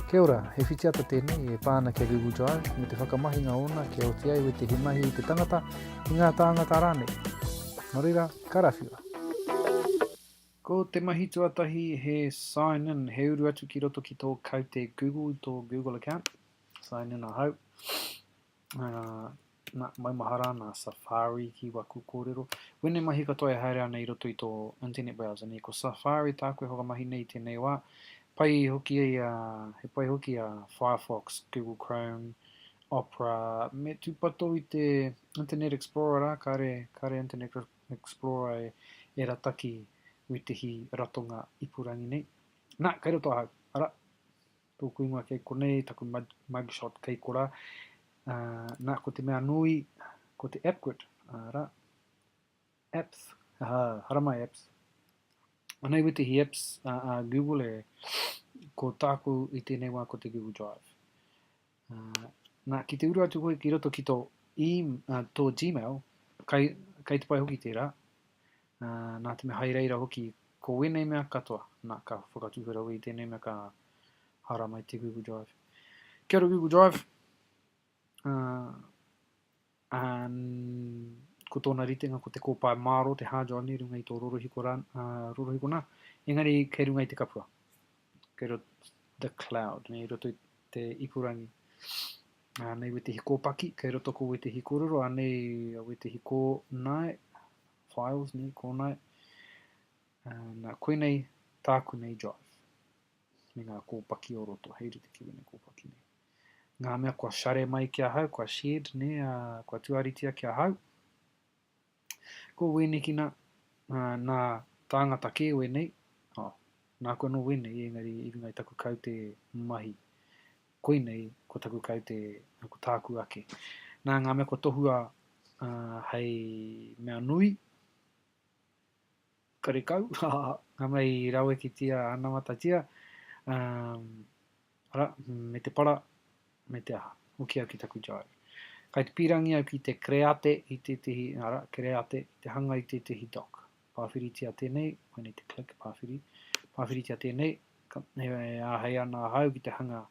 Kia ora, he whitiata tēnei e pā ana ki a Google Drive me te whakamahinga ōna kia oti ai wete he mahi i te tangata, i ngā tāngata rānei. Nō reira, karawhiua! Ko te mahi tuatahi he sign in, he uru atu ki roto ki tō kaute Google, tō Google account. Sign in ahau. Na, maumahara ana a Safari ki waku kōrero. Wēnei mahi katoa e haere ana i roto i tō internet browser nei, ko Safari tāku e whakamahi nei i tēnei wā. Pai hoki ai a, he pai hoki a Firefox, Google Chrome, Opera, me tūpato i te Internet Explorer rā, kāre, kāre Internet Explorer e, e rataki wētehi ratonga ipurangi nei. Na, kei roto ahau. Ara! Tōku ingoa kei konei, taku mugshot kei kora. Nā, ko te mea nui, ko te Apkwit, arā, apps, aha, haramai apps. Anei wetihi apps a, a Google e, ko tāku i tēnei wā ko te Google Drive. Uh, nā, ki te uru atu koe ki roto ki tō, e, uh, tō Gmail, kai, kai te pai hoki tērā, Ā, nā te mea hai reira hoki ko wēnei mea katoa, nā, ka whakatūhura au i tēnei mea ka hara mai te Google Drive. Kia ora Google Drive. Ā, ā, ko tōna ritenga ko te kōpae māro, te hard drive nei runga i tō rorohiko, rā, ā, rorohiko nā, engari kei runga i te kapua. Kei roto the cloud, nei roto i te ipurangi. Ā, nei wētehi kōpaki, kei roto ko wētehi kōrero, ā, nei wētehi kōnae, files nei kōnā e. Uh, nā, koe nei tāku nei drive. Me ngā kōpaki o roto, hei rite ki wene kōpaki nei. Ngā mea kua share mai ki ahau, kua shared ne, uh, kua tuaritia ki ahau. Ko wēnekina, uh, nā tāngata kē wēnei, oh, nā koe no wēnei, engari i runga i taku kaute mahi, Koinei ko taku kaute, nā, ko tāku ake. Nā, ngā mea kua tohua hei mea nui, karekau, ngā mea i rawekitia anamatatia, ara, me te para, me te aha. Hoki au ki taku jive. Kai te pīrangi au ki te kreate i tētehi, ara, kreate, te hanga i tētehi dock. Pāwhiritia tēnei, I need to click, pāwhiri, pāwhiritia tēnei, ka, e, e āhei ana ahau ki te hanga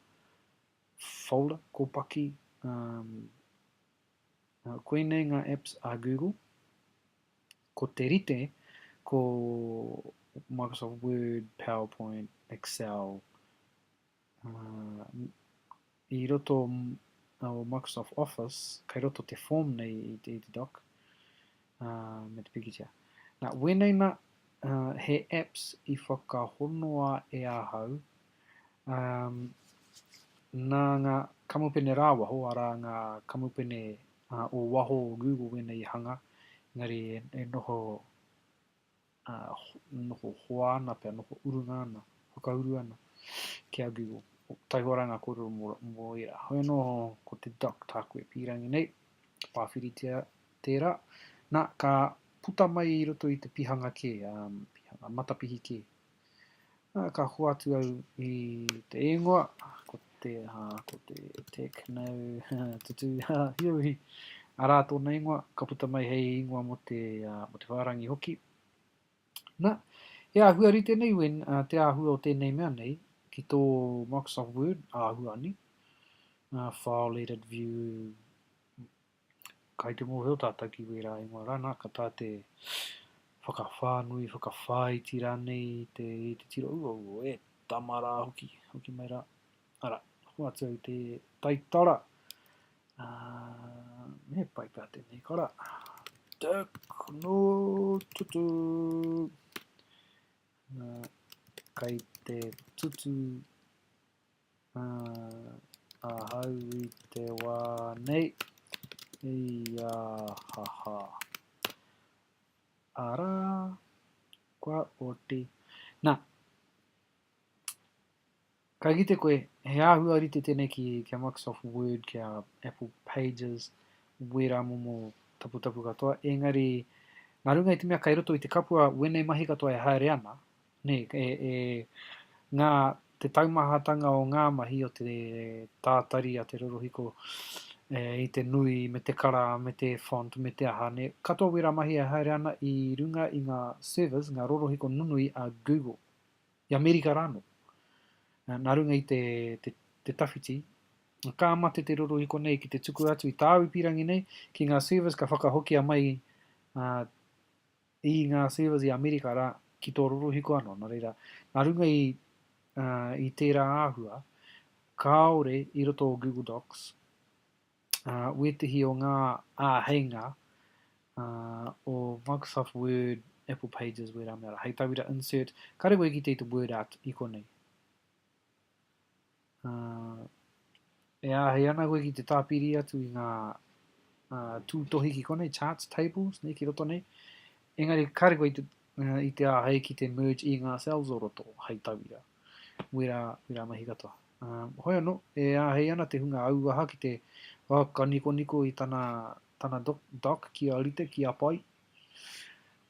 folder, kōpaki, um, uh, koinei ngā apps a Google, ko te rite, ko Microsoft Word, PowerPoint, Excel, I roto o Microsoft Office, kei roto te form nei i te doc, me te pikitia. Na, wēnei na, he apps i whakahonoa e ahau, na nga kamupene rawaho, ara nga kamupene o waho o Google wēnei i hanga, engari e noho ā, noho hoa ana pea, noho urunga ana, whakauru ana ki a Google. Taihoa rā ngā kōrero mō, mō ērā. Hoi anō, ko te Doc tāku e pīrangi nei, ka pāwhiritia tērā. Nā, ka puta mai i roto i te pihanga kē, ā, pihanga matapihi kē. Uh, ka hoatu au i te ingoa, ko te, uh, ko te tech nau, tutu, hiawi, arā tōna ingoa, ka puta mai hei ingoa mo te, uh, mo te whārangi hoki. Na, he āhua rite nei, Win, uh, te āhua o tēnei mea nei, ki tō Microsoft Word, āhua ani, uh, file edit view, Kai te mōhio tātou ki wērā ingoa rā, nā, ka tā te whakawhānui, whakawhāiti rānei i te, i te tiro uauo, e tama rā hoki, hoki mai rā. Arā, hoatu au te taitara. Uh, me pai pā tēnei kara. Tuk, no, tutu. Uh, kai te tutu Ahau i te wā nei, iāhaha. Arā, kua oti. Nā, ka kite koe, he āhua rite tēnei ki a Microsoft Word, ki a Apple Pages, wērā momo taputapu katoa, engari, nā runga i te mea kei roto i te kapua wēnei mahi katoa e haere ana, Nē, e ngā, te taumahatanga o ngā mahi o te tātari a te rorohiko i te nui me te kara me te font me te aha, nē, katoa wērā mahi e haere ana i runga i ngā servers, ngā rorohiko nunui a Google, i Amerika rānō. Nā runga i te, te, te tawhiti, ka mate te rorohiko nei ki te tuku atu i tāu pīrangi nei ki ngā servers ka whakahokia mai uh, i ngā servers i Amerika rā, ki tō rorohiko anō, nō reira, nā runga i, uh, i tērā āhua, kāore i roto o Google Docs, uh, wētehi o ngā āheinga uh, o Microsoft Word, Apple Pages, wērā mea rā. Hei tauira insert, kāre koe ki te i te word art i konei. E āhei ana koe ki te tāpiri atu i ngā tūtohi ki konei, charts, tables, nei ki roto nei. Engari, kāre koe i te, uh, i te āhei ki te merge i ngā cells o roto hei tauira. Wera, wera mahi katoa. Uh, hoi anō, e āhei ana te hunga auaha ki te whakakanikoniko i tana, tana doc, doc ki a rite, ki a pai.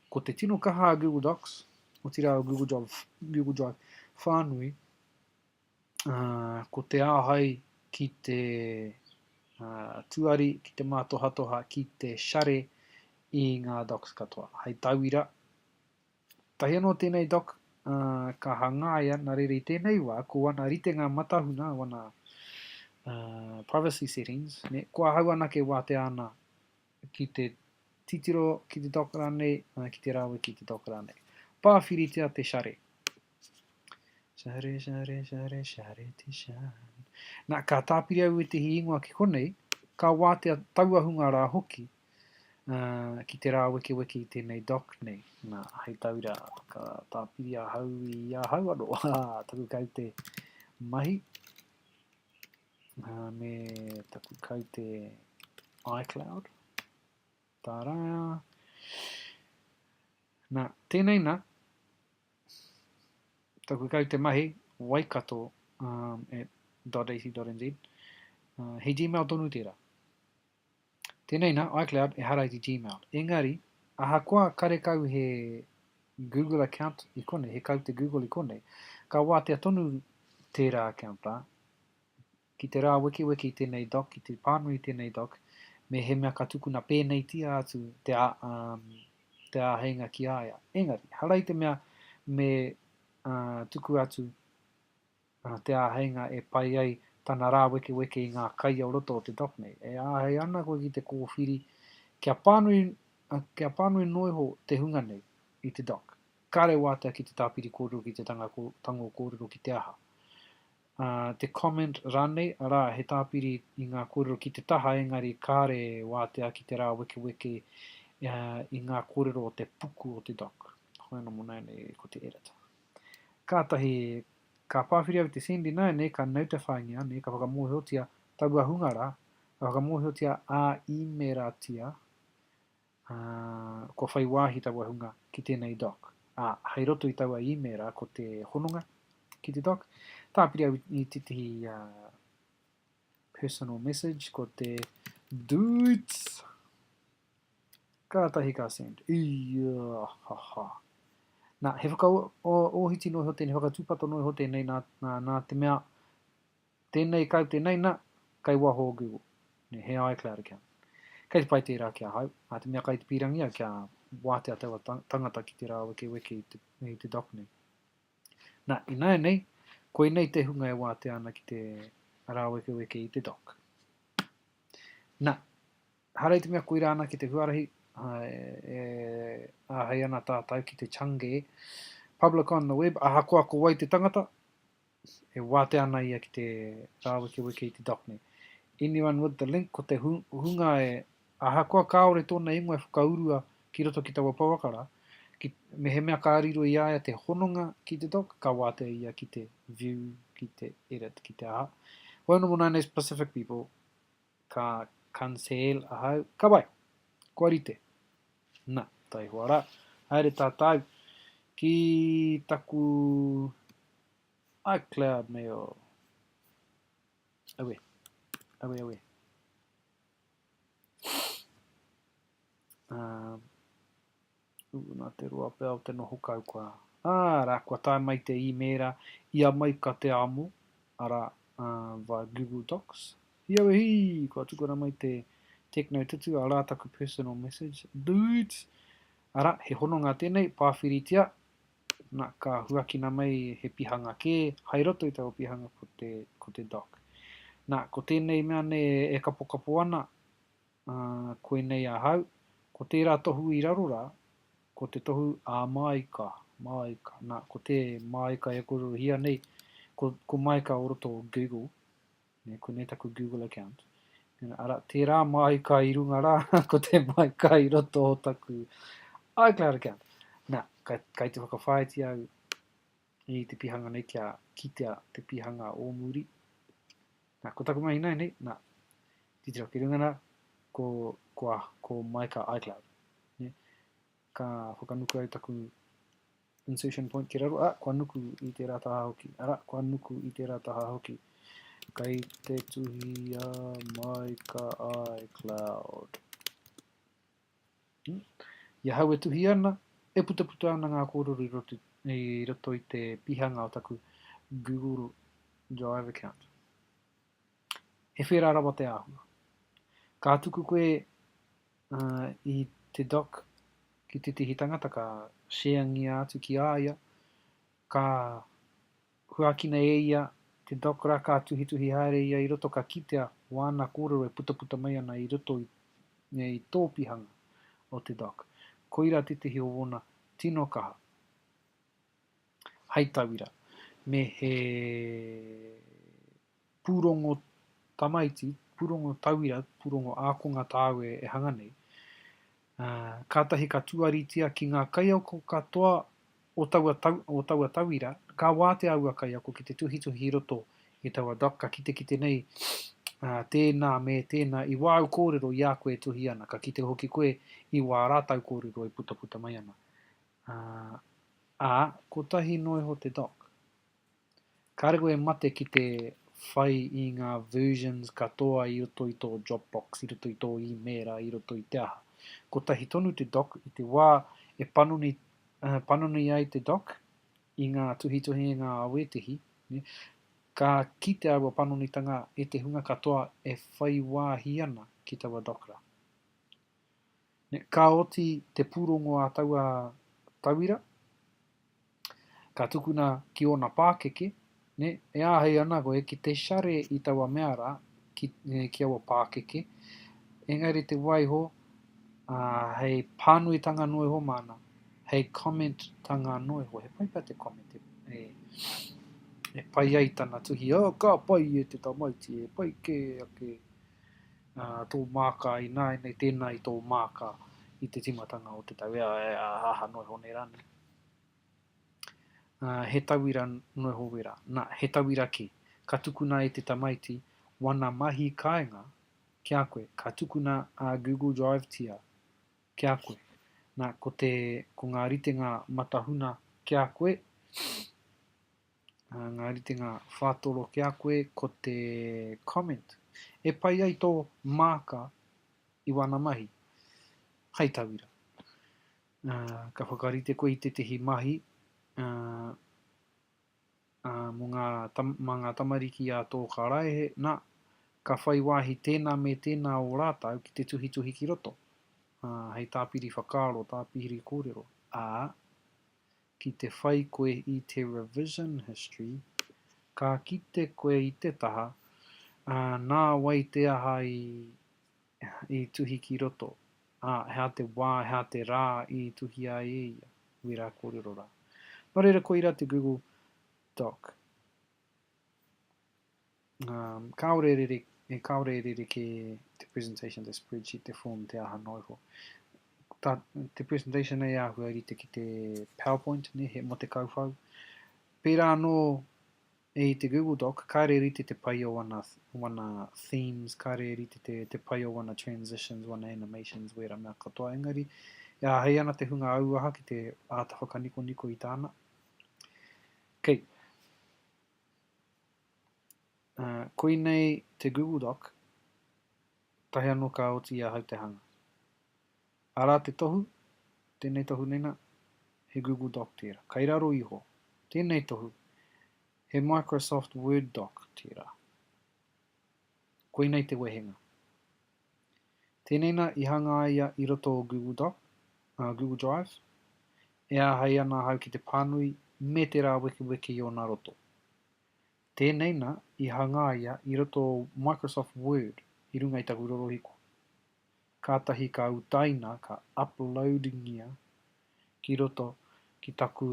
Ko te tino kaha a Google Docs, o tira o Google Drive, Google Drive whānui, Ko te āhei ki te tuari, ki te mātohatoha, ki te share i ngā docs katoa. Hei tauira, tahi anō tēnei doc ka hangaia nā reira i tēnei wā, ko wana ritenga matahuna, wana privacy settings, ne, ko ahau anake wātea ana ki te titiro ki te doc rānei, ā, ki te rawe ki te doc rānei. Pāwhiritia te share. Share, share, share, share te share. Nā, ka tāpiri au ētehi ingoa ki konei, ka wātea taua hunga rā hoki, ā, ki te rāwekeweke i tēnei doc nei. Nā, hei tauira, ka tāpiri ahau i ahau anō, taku kaute mahi. uh, me taku kaute iCloud. Tā rā. Nā, tēnei nā, taku kaute mahi, waikato um, at .ac.nz. Uh, he Gmail tonu tērā. Tēnei nā, iCloud ehara i te Gmail. Engari, ahakoa karekau he Google account i konei, he kaute Google i konei, ka wātea tonu tērā account rā, ki te rāwekeweke i tēnei doc, ki te pānui i tēnei doc, mehemea ka tukuna pēneitia atu te, a, um, te āheinga ki a ia. Engari, hara i te mea me uh, tuku atu Ana te āheinga e pai ai tana rāwekeweke i ngā kai o roto o te dock nei. E āhei ana koe ki te kōwhiri kia pānui, kia pānui noa iho te hunga nei i te dock. Kāre wātea ki te tāpiri kōrero, ki te tanga tango kōrero, ki te aha. Ā, te comment rānei, arā, he tāpiri i ngā kōrero ki te taha engari kāre wātea ki te rāwekeweke i ngā kōrero o te puku o te dock. Hoena mō nāianei ko te edit. Kātahi ka pāwhiri au i te Sandy nāianei ka notify-ngia nei, ka whakamōhiotia taua hunga rā, ka whakamōhiotia ā-īmēratia, ā, kua whai wāhi taua hunga ki tēnei doc, ā, hei roto i taua īmēra ko te hononga ki te doc, tāpiri au i tētahi ā, personal message ko te dudes. Kātahi ka Sand, Iiaahhaahha. Nā, he whakaōhiti noa iho tēnei, whakatūpato noa iho tēnei, nā, nā, nā te mea, tēnei kau, tēnei nā, kei waho o Google, nē, he iCloud account. Kei te pai tērā ki ahau, nā te mea kai te pīrangi au kia wātea taua tangata ki te rāwekeweke i te, i te dock nei. Nā, ināianei, koinei te hunga e wātea ana ki te rāwekeweke i te dock. Nā. Haere te mea koirā anake te huarahi e āhei ana tātou ki te Chang'e, public on the web, ahakoa ko wai te tangata, e wātea ana ia ki te rāwekeweke i te Dockne. Anyone with the link, ko te hunga e, ahakoa kāore tōna ingoa e whakaurua ki roto ki taua pouaka rā, ki, mehemea ka riro i a ia te hononga ki te Dock, ka wātea ia ki te view, ki te edit, ki te aha. Whai no mo nāne specific people, Ka cancel ahau, ka bai! Kua rite. Na, taihoa ra, haere tatou ki taku iCloud mail. Awe. Awe, awe. Um, Ooh, na te roa pea o te noho kau koa. Ah, ara, kua tae mai te imeera, ia mai ka te amo, ara, ah, via Google Docs. Hiawe hii! Kua tukuna mai te Techno Tutu, ara taku personal message. Dudes! Ara, he hononga tenei, pawhiritia, na, ka huakina mai he pihanga ke, hai roto i taua pihanga ko te, ko te Doc. Na, ko tenei mea nei e kapokapo ana, Ā, koinei ahau, ko tērā tohu i raro rā, ko te tohu ā Māika, Māika, nā, ko tē Māika e kōrerohia nei, ko, ko Māika o roto o Google, nē, koinei taku Google account, nē, ara, tērā Māika i runga rā, ko tē Māika i roto o taku iCloud account. Nā, kai, kai te whakawhāiti au, i te pihanga nei kia kitea te pihanga o muri. Nā, ko taku mahi nei, nā, titiro ki runga nā, ko, ko, ko Maika iCloud. Ne? Ka whakanuku ai taku insertion point ki raro, a, kua nuku i tērā taha hoki, ara, kua nuku i tērā taha hoki. Kei te tuhi a Maika iCloud. I ahau e tuhi ana, e putaputa ana ngā kōrero i roto i te pihanga o taku Google Drive account. He whērā rawa te āhua. Ka tuku koe uh, i te doc ki tētehi tangata ka share ngia atu ki a ia, ka Huakina e ia te doc ra ka tuhituhi haere ia i roto ka kitea wana korero e putaputa mai ana i roto i nei topihanga o te doc. Koira tetahi o wona tino kaha. Hai tawira, me he pūrongo tamaiti, pūrongo tauira, pūrongo ākonga tāu e, e hanga nei, ā, kātahi ka tuaritia ki ngā kaiako katoa o taua, tau, o taua tauira, ka wātea aua kaiako ki te tuhituhi i roto i taua doc, ka kitekite nei ā, tēnā me tēnā i wāu kōrero i a koe e tuhi ana, ka kite hoki koe i wā rātau kōrero e putaputa mai ana. Ā, ā, kotahi noa iho te doc. Kāre koe e mate ki te whai i ngā versions katoa i roto i tō Dropbox, i roto i tō īmēra, i roto i te aha. Kotahi tonu te doc, i te wā e panoni, panoni ai te doc i ngā tuhituhinga a wētehi, ka kite aua panonitanga e te hunga katoa e whai wāhi ana ki taua doc rā. Ka oti te pūrongo a taua tauira, ka tukuna ki ōna pākeke, e āhei ana koe ki te share i taua mea rā, ki aua pākeke, engari te waiho hei pānuitanga noa iho māna, hei comment-tanga noa iho. He pai pea te comment e pai ai tana tuhi, oh, ka pai e te tamaiti, he pai kē ake. tō māka, ināianei tēnā i tō māka i te tīmatanga o te tau, ea, ea, aha noa iho nei rā nei. Uh, he tauira noa iho wera, nā, he tauira kē. Ka tukuna e te tamaiti wana mahi kāinga ki a koe, ka tukuna a Google Drive tia ki a koe. Nā, ko, te, ko ngā ritenga matahuna ki a koe, Ā, ngā ritenga whātoro ki a koe ko te comment e pai ai tō māka i wāna mahi. Hai tauira, ā, ka whakarite koe i tētehi mahi, ā, ā, mō ngā, mā ngā tamariki a tō karaehe, nā, ka whai wāhi tēnā me tēnā o rātau ki te tuhituhi ki roto, ā, hei tāpiri whakaaro, tāpiri kōrero. Ā, Ki te whai koe i te revision history, ka kite koe i te taha, ā, nā wai te aha i, i tuhi ki roto, ā, he aha te wā, he aha te rā i tuhi ai e ia, wērā kōrero rā. Nō reira koira te Google Doc. Um, kāore e rere, e kāore e rere ke te presentation, te spreadsheet, te form, te aha noa iho. Ta, te presentation nei āhua rite ki te PowerPoint, ne, he mo te kauwhau. Pērā anō e i te Google Doc, kāre rite te pai o wana, wana themes, kāre rite te, te pai o wana transitions, wana animations, wērā mea katoa. Engari, e āhei ana te hunga auaha ki te āta whakanikoniko i tāna. Kei. Okay. Koinei te Google Doc, tahi anō ka oti i ahau te hanga. Arā te tohu, tēnei tohu nei nā, he Google Doc tērā, kai raro iho. Tēnei tohu, he Microsoft Word Doc tērā. Koinei te wehenga. Tēnei nā i hangaia i roto o Google Doc, ā, Google Drive, e āhei ana ahau ki te pānui me te rāwekeweke i ōna roto. Tēnei nā i hangaia i roto o Microsoft Word i runga i taku rorohiko. Kātahi ka utaina ka uploadingia ki roto ki taku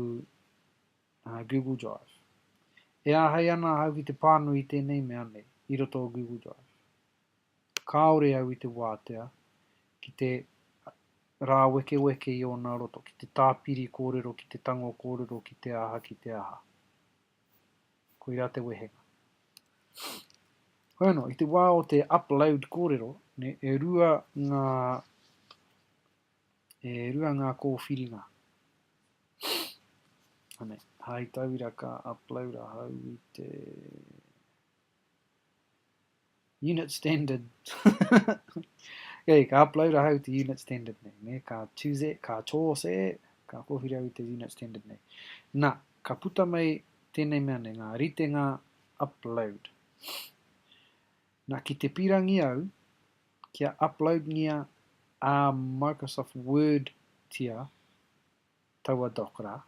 Google Drive. E āhei ana ahau ki te pānui i tēnei mea nei i roto o Google Drive. Kāore au i te wātea ki te rāwekeweke i ōna roto, ki te tāpiri kōrero, ki te tango kōrero, ki te aha, ki te aha. Koirā te wehenga. Hoi anō, i te wā o te upload kōrero, ne, e rua ngā e rua ngā kōwhiringa. Anei, hai tauira ka upload ahau i te Unit standard. Kei, ka upload ahau te unit standard nei, ne? Ka choose e, ka choose e, ka kōwhiri au i te unit standard nei. Na, ka puta mai tēnei mea nei, ngā ritenga upload. Na, ki te pirangi au, kia upload ngia a Microsoft Word tia taua doc ra,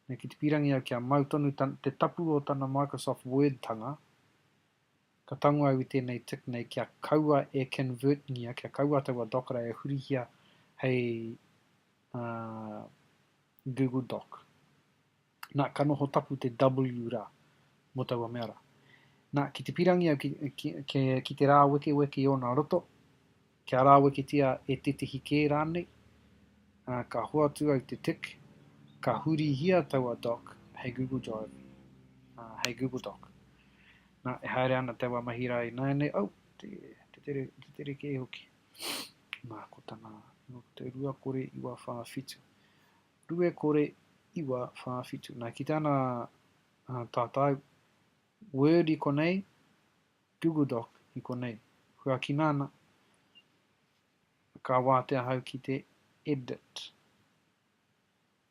na, ki te pirangi au kia mau tonu te tapu o tana Microsoft Word tanga, Ka tango au i tēnei tick nei kia kaua e convertingia, kia kaua taua Dockera e hurihia hei uh, Google Doc. Nā, ka noho tapu te W rā mō taua mea rā. Nā, ki te pirangi au ki, ki, ki, ki te rā wekeweke i ōna roto, Kia rāweketia e tētehi kē rānei, ā, ka hoatu au te tick, ka hurihia taua doc hei Google Drive, ā, hei Google Doc. Nā, e haere ana taua mahi rā ināianei, au, te, te tere, te tere kē hoki. Nā, ko tana, nō ko te rua kore iwa whā whitu. Rue kore iwa whā whitu. Nā, ki tāna, ā, tātau, Word i konei, Google Doc i konei. Kua kinaana, ka wātea ahau ki te edit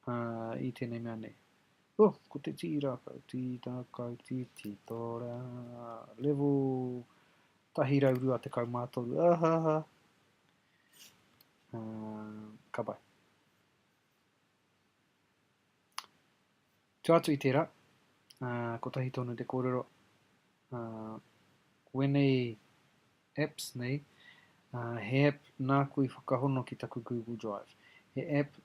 uh, i tēnei mea nei. Oh, ko te tīra kau, tīra kau, tī, tī, tōra, level tahi rau rua te kau mātoru, ahaha, uh, ka pai. Tū atu i tērā, kotahi tonu te kōrero, ko ēnei apps nei, he app nāku i whakahono ki taku Google Drive. He app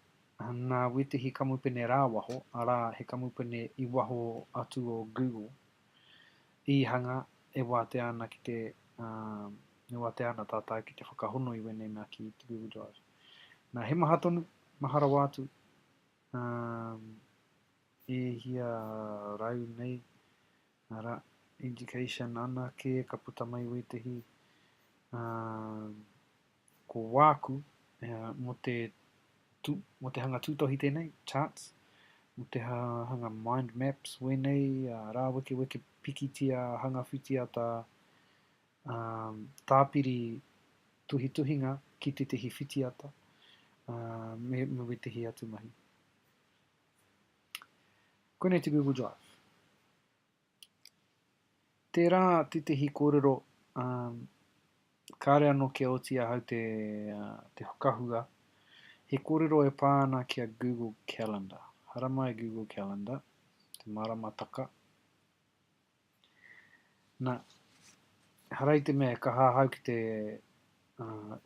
nā wētehi kamupene rāwaho, arā, he kamupene i waho atu o Google, i hanga e wātea ana ki te, e wātea ana tātau ki te whakahono i wēnei mea ki te Google Drive. Nā, he maha tonu, maha rawa atu, Ā, e hia rau nei, arā, education anake ka puta mai wētehi, ā, ko wāku, ā, mō te tū, mō te hanga tūtohi tēnei, charts, mō te hanga mind maps wēnei, ā, rāwekeweke pikitia hanga whitiata, tāpiri tuhituhinga ki tētahi whitiata me, me wētahi atu mahi. Koinei te Google Drive. Tērā tētahi kōrero um, kāre anō kia oti ahau te, uh, te whakahua, he kōrero e pā ana ki a Google Calendar. Haramai Google Calendar, te maramataka, Na, ehara i te mea e kaha ahau ki te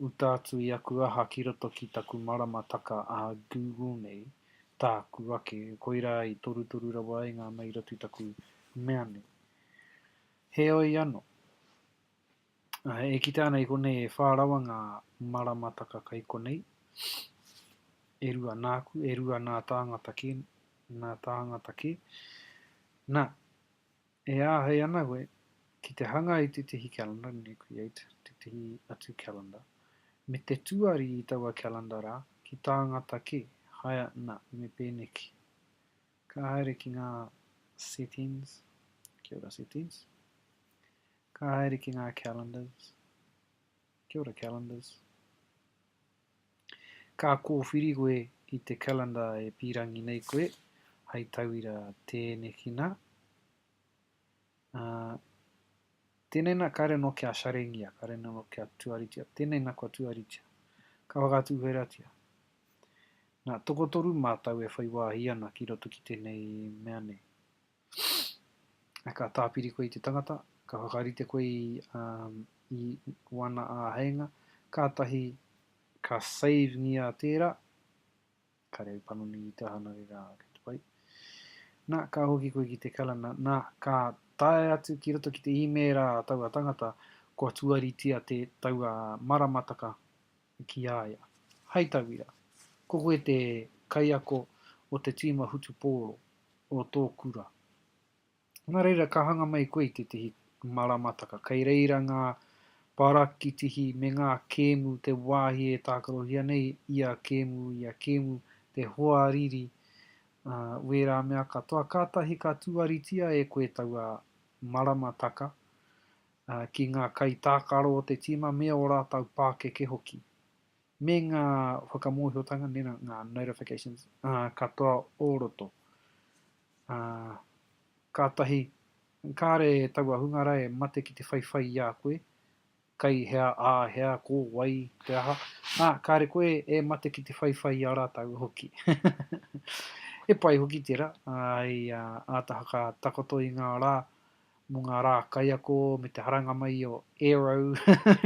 uta atu i aku aha ki roto ki taku maramataka a Google nei, tāku ake, koirā i torutoru rawa ai ngā mairatu taku mea nei. Heoi ano. E kite ana i konei e whā rawa ngā maramataka kai konei, e rua nāku, e rua nā tāngata kē, nā tāngata kē. Nā, e āhei ana koe ki te hanga i tētehi calendar, nē, create tētehi atu calendar, me te tuari i taua calendar rā ki tāngata kē, haea, nā, me pēneki. Ka haere ki ngā settings, kia ora settings, Ka haere ki ngā calendars. Kia ora calendars. Ka kōwhiri koe i te calendar e pīrangi nei koe, hai tauira tēneki nā. Ā, tēnei nā, kāre anō kia sharingia, kāre anō kia tuaritia. Tēnei nā kua tuaritia. Ka whakatūwheratia. Nā, tokotoru mātau e whai wāhi ana ki roto ki tēnei mea nei. Ka tāpiri koe i te tangata, ka whakarite koe i, um, i wana āheinga, kātahi ka save-ngia tērā, ka reo panoni i te aha nā reira kei te pai. Nā, ka hoki koe ki te kalana, nā, ka tae atu ki roto ki te īmēra a taua tangata, kua tuaritia te taua maramataka ki a ia. Hai tauira, ko koe te kaiako o te tīma hutupōro o tō kura. Nā reira, ka hanga mai koe i tētehi maramataka. Kei reira ngā parakitihi me ngā kēmu te wāhi e tākarohia nei ia kēmu, ia kēmu, te hoariri, ā, wērā mea katoa. Kātahi ka tuaritia e koe taua maramataka, ā, ki ngā kaitākaro o te tīma me ō rātou pākeke hoki, me ngā whakamōhiotanga, mēnā ngā notifications, ā, katoa o roto. Ā, kātahi, kāre taua hunga rā e mate ki te whaiwhai i a koe, kai hea, ā hea, ko wai, te aha, ā, kāre koe e mate ki te whaiwhai i a rātou hoki. He pai hoki tērā, ā, hei āta whakatakoto i ngā rā mō ngā rā kaiako me te haranga mai o Aero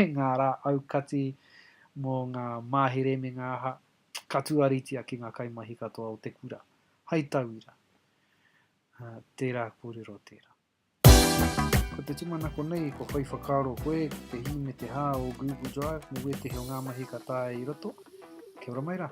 i ngā rā aukati mō ngā mahere me ngā aha, ka tuaritia ki ngā kaimahi katoa o te kura. Hai tauira, tērā kōrero tērā. Ko te tūmanako nei, kua whai whakaaro koe ki te hī me te hā o Google Drive me wētehi o ngā mahi ka taea i roto? Kia ora mai rā!